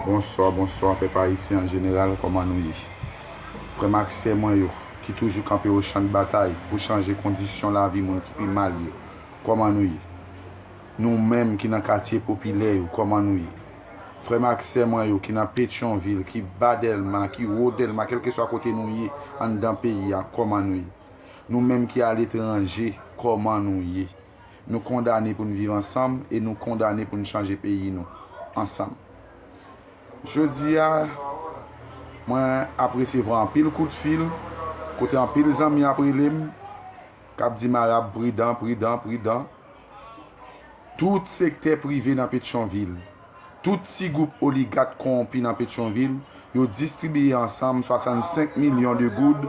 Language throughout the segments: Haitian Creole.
Bonswa bonswa pèp ayisyen an jeneral kòman nou ye frè m ak sè mwen yo ki toujou kanpe o chan de batay pou chanje kondisyon lavi moun ki pi mal yo kòman nou ye nou menm ki nan katye popilè yo kòman nou ye frè m ak sè mwen yo ki nan petyon vil ki ba dèlma ki wo dèlma kèlkeswa kote nou ye anndan peyi a kòman nou ye nou menm ki aletranje kòman nou ye. Nou kondane pou n viv ansanm e nou kondane pou n chanje peyi nou ansanm. Jodi a, mwen ap resevwa anpil kout fil, kote anpil zanmi ap rele m, k ap di m Arab pridan, pridan, pridan. Tout sektè prive nan Petyonvil. Tout ti gwoup oligat kowonpi nan Petyonvil yo distribiye ansanm 65 milyon de goud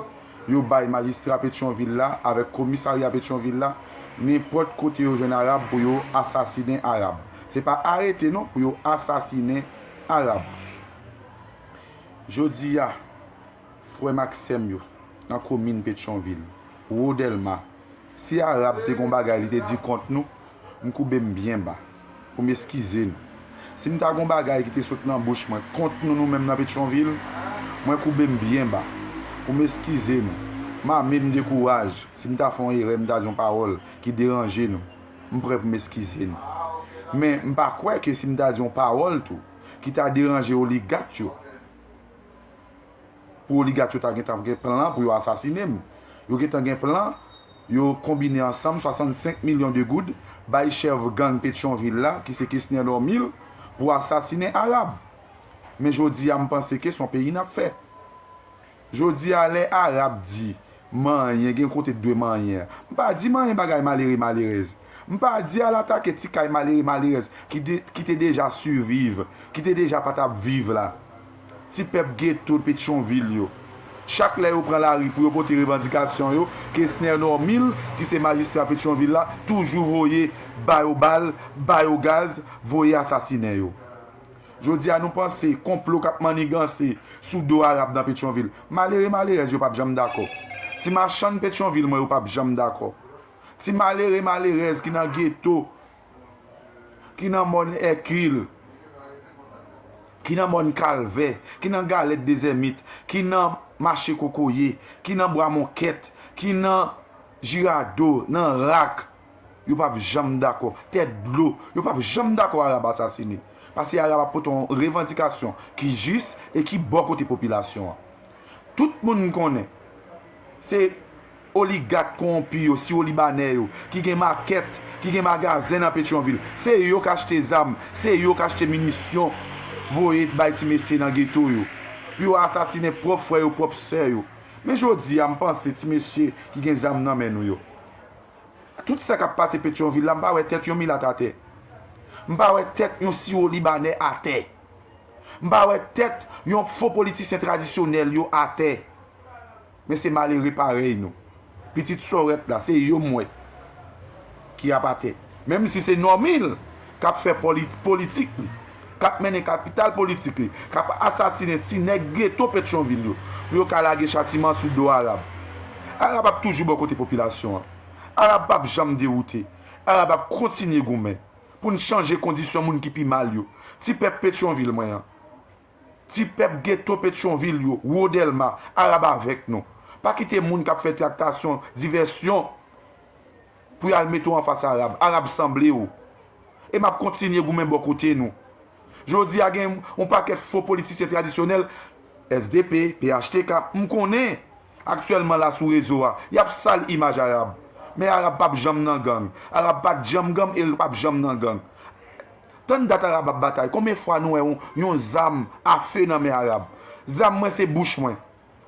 yo bay majistra Petyonvil la avèk komisarya Petyonvil la nenpòt kote yo jwenn arab pou yo asasinen arab se pa arete non pou yo asasinen arab jodi a. Frè m ak sè m yo nan komin Petyonvil, Wo Dèlma, si Arab te gon bagay li te di kont nou, m koube m byen ba pou m eskize nou. Si m ta gon bagay ki te sot nan bouch mwen kont nou nou menm nan Petyonvil, mwen koube m byen ba pou m eskize nou. M ame, m dekouraj, si m ta fè yon erè, m ta di yon pawòl ki deranje nou, m prè pou m eskize nou. Men, m pa kwè ke si m ta di yon pawòl tou ki ta deranje oligat yo, pou oligat yo ta gen tan gen plan pou yo asasine m. Yo gen tan gen plan, yo konbine ansanm 65 milyon de goud bay chèf gang Petyonvil la ki se Kesner Normil pou asasine Arab. Men jodi a m panse ke son peyi n ap fè. Jodi a lè Arab di manyen gen kote t dwe manyen an. M pa di manyen bagay malere malerèz. M pa di al atake ti kay malere malerèz ki te deja siviv, ki te deja pa t ap viv la. Ti pèp geto Petyonvil yo, chak lè yo pran lari pou yo pote revandikasyon yo, Kesner Normil ki se majistra Petyonvil la toujou voye ba yo bal, ba yo gaz, voye asasinen yo. Jodi a nou panse konplo k ap manniganse sou do Arab nan Petyonvil. Malere malerèz yo p ap janm dakò. Ti machann Petyonvil mwen yo p ap janm dakò. Ti malere malerèz ki nan geto. ki nan mòn Èkil, ki nan mòn Kalvè, ki nan Galèt Dezèmit, ki nan Mache Kokoye, ki nan Bwa Monkèt, ki nan Jirado, nan Rak, yo p ap janm dakò. Tèt dlo, yo p ap janm dakò Arab asasine. Pase Arab ap pote yon revandikasyon ki jis e ki bò kote popilasyon an. Tout moun konnen, se. Oligat konwonpi yo, siwolibanè yo, ki gen makèt, ki gen magazen nan Petyonvil, se yo k achte zam, se yo k achte minisyon voye bay ti mesye nan geto yo, pou yo asasinen pwòp frè yo, pwòp sè yo. Men jodi a, m panse, ti mesye ki gen zam nan men nou yo, tout sa k ap pase Petyonvil la, m pa wè tèt yon milat atè. M pa wè tèt yon siwolibanè atè. M pa wè tèt yon fo politisyen tradisyonèl yo atè. Men se malere parèy nou. Pitit sòrèt la, se yo m wè ki ap atè. Menm si se Normil k ap fè politik li, k ap mennen kapital politik li, k ap asasinen ti nèg geto Petyonvil yo pou yo ka lage chatiman sou do Arab. Arab ap toujou bò kote popilasyon an. Arab pap janm dewoute. Arab ap kontinye goumen pou n chanje kondisyon moun ki pi mal yo. Ti pèp Petyonvil mwen an. Ti pèp geto Petyonvil yo, Wo Dèlma, Arab avèk nou. Pa kite moun k ap fè traktasyon, divèsyon pou y al mete w anfas Arab. Arab sanble w. E m ap kontinye goumen bò kote nou. Jodi a gen yon pakèt fo politisyen tradisyonèl, sdp, phtk, m konnen, aktyèlman la sou rezo a, y ap sal imaj Arab. Men Arab p ap janm nan gang. Arab pa t janm gang e l p ap janm nan gang. Tann dat Arab ap batay. Konbyen fwa nou wè yon zam a fe nan men Arab? Zam mwen se bouch mwen.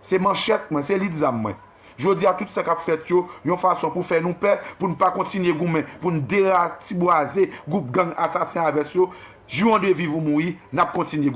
Se manchèt mwen, se lit zam mwen. Jodi a tout sa k ap fèt yo, yon fason pou fè nou pè, pou n pa kontinye goumen, pou n deratibwaze gwoup gang asasen avès yo, jiron de viv ou mouri, n ap kontinye goumen.